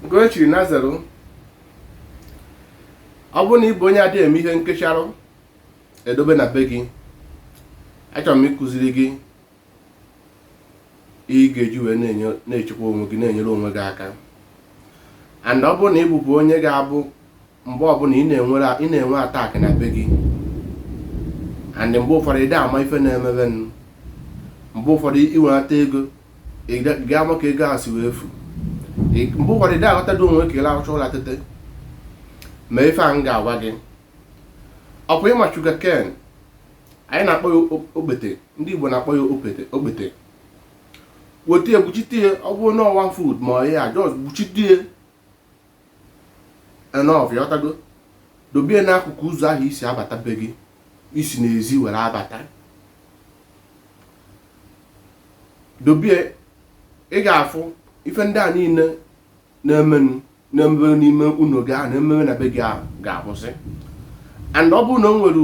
Ugochi Nazaru ọ bụrụ na ị bụ onye adịghị eme ihe nkecharụ edobe na be gị achọrọ m ịkụziri gị ị ga-eji wee na-echekwa onwe gị na-enyere onwe gị aka and ọ bụrụ na ị bụbụ onye ga-abụ mgbe ọbụla ị na-enwere ị na-enwe attack na be gị and mgbe ụfọdụ ị ama ife na-emebe nụ mgbe ụfọdụ i wenata ego ị ga-ama ka ego ahụ si wee efu mgbe ụfọdụ ị aghọta dị onwe ka ị lahụcha ụla tete ma ife a m ga-agwa gị ọ kwa ị ma sugar cane anyị na-akpọ ya okpete ndị Igbo na-akpọ ya okpete okpete weta ya gbuchite ya ọ bụrụ na ọ one foot ma ọ ya just gbuchite ya enough ị ghọtago dobe ya n'akụkụ ụzọ ahụ ị si abata be gị ị si n'ezi were abata dobe ya ị ga-afụ ife ndị a niile na-emenụ na-emebe n'ime ụlọ gị ahụ na-emebe na be gị ahụ ga-akwụsị and ọ bụrụ na o nwere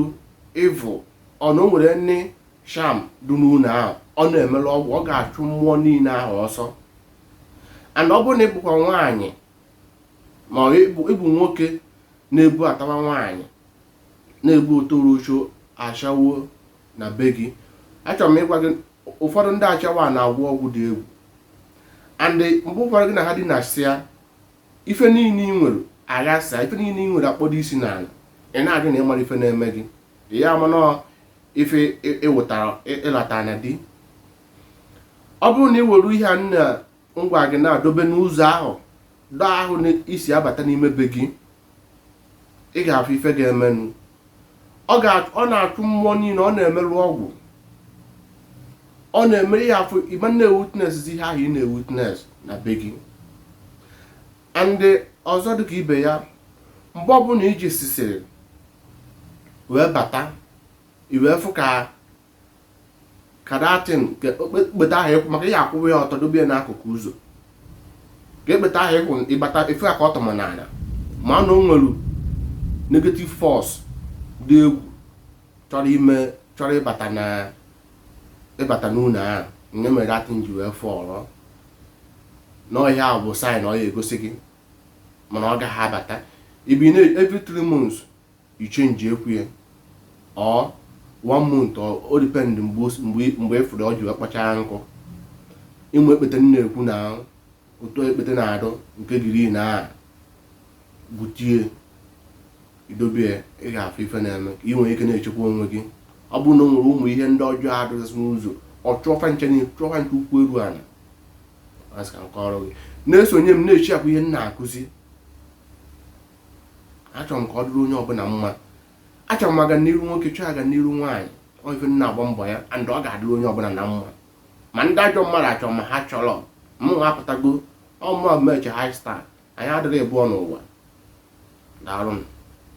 evil or na o nwere any charm dị n'ụlọ ahụ ọ na-emerụ ọgwụ ọ ga-achụ mmụọ niile ahụ ọsọ and ọ bụrụ na ị bụkwa nwaanyị ma ị bụ nwoke na-ebubatawa nwaanyị na-ebute olosho ashawo na be gị achọrọ m ịgwa gị ụfọdụ ndị ashawo na-agwọ ọgwụ dị egwu and mgbe ụfọdụ gị na ha dinasịa ife niile ị nwere aghasa ife niile ị nwere akpọdo isi n'ala ị na-ajụ na ị mara ife na-eme gị ya amanọ ife ịwụtara ịlata na di ọ bụrụ na ị were ihe a m na-agwa gị na-edobe n'ụzọ ahụ door ahụ na ị si abata n'ime be gị ị ga-afụ ife ga-emenụ ọ ga- ọ na-achụ mmụọ niile ọ na-emerụ ọgwụ ọ na-eme ihe ahụ ị ma na-ewitness ihe ahụ ị na-ewitness na be gị and ọzọ dịka ibe ya mgbe ọbụla i jesisiri wee bata i wee fụ ka ka that thing ka okpete ahụ ị kwụ maka ị ya-akwụwa ya ọtọ dobe ya n'akụkụ ụzọ ka okpete ahụ ị kwụ ị bata ị fụ ya ka ọ tọma n'ala ma na o nwere negative force dị egwu chọrọ ime chọrọ ịbata na ịbata n'ụlọ ahụ nke mere that thing ji wee fall na ihe ahụ bụ sign ọ ya-egosi gị mana ọ gaghị abata ibi na every three months ị changekwa ya or one month o depend mgbe ị fụrụ o ji wee kpọchaa nkụ ị ma ekpete m na-ekwu na otu ekpete na-adụ nke green a butie i dobie ị ga-afụ ife na-eme ka ị nwere ike na-echekwa onwe gị ọ bụrụ na o nwere ụmụ ihe ndị ọjọọ adụgasị n'ụzọ ọ chụọ fa ncha na chụọ fa ncha ụkwụ eru ala asị ka m kọrọ gị na-esonye m na-echi akwa ihe m na-akụzi achọrọ m ka ọ dịrị onye ọbụla mma achọrọ m aga n'iru nwoke chọọ aga n'iru nwaanyị ọ ife m na-agba mbọ ya and ọ ga-adịrị onye ọbụla na mma ma ndị ajọ mmadụ achọrọ ma ha chọrọ mụ nwa apụtago ọ mụ Amaechi high star anyị adịrị ịbụọ n'ụwa daalụ nụ